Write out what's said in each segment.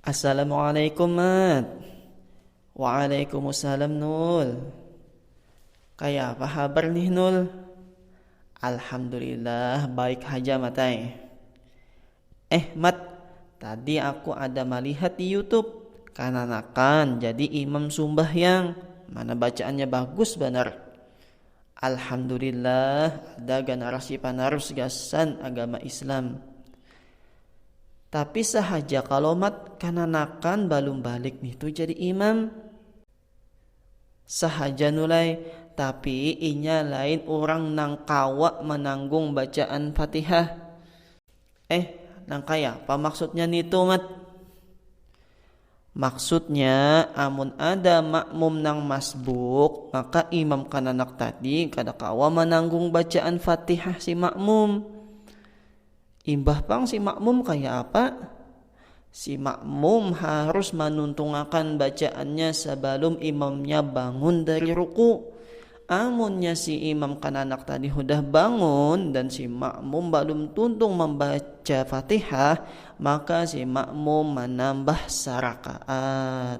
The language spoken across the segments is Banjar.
Assalamualaikum Mat. Waalaikumsalam Nul. Kaya apa habar nih Nul? Alhamdulillah baik haja matai. Eh Mat, tadi aku ada malihat di YouTube kananakan jadi imam sumbahyang. Mana bacaannya bagus banar. Alhamdulillah ada ganarasi panarus gasan agama islam. Tapi sahaja kalau mat kananakan balum balik nih tu jadi imam. Sahaja nulai tapi inya lain orang nang kawa mananggung bacaan fatihah. Eh nangkaya apa maksudnya nitu mat. Maksudnya, amun ada makmum nang masbuk, maka imam kananak tadi kada kawa mananggung bacaan Fatihah si makmum. Imbah pang si makmum kaya apa? Si makmum harus manuntungakan bacaannya sabalum imamnya bangun dari ruku. Amunnya si imam kananak tadi hudah bangun dan si makmum balum tuntung mambaca Fatihah, maka si makmum manambah sarakaat.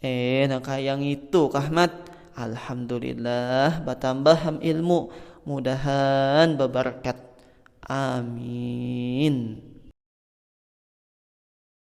Eh, nah kaya ngitu kah mat? Alhamdulillah batambah ham ilmu, mudahan babarkat. Amin.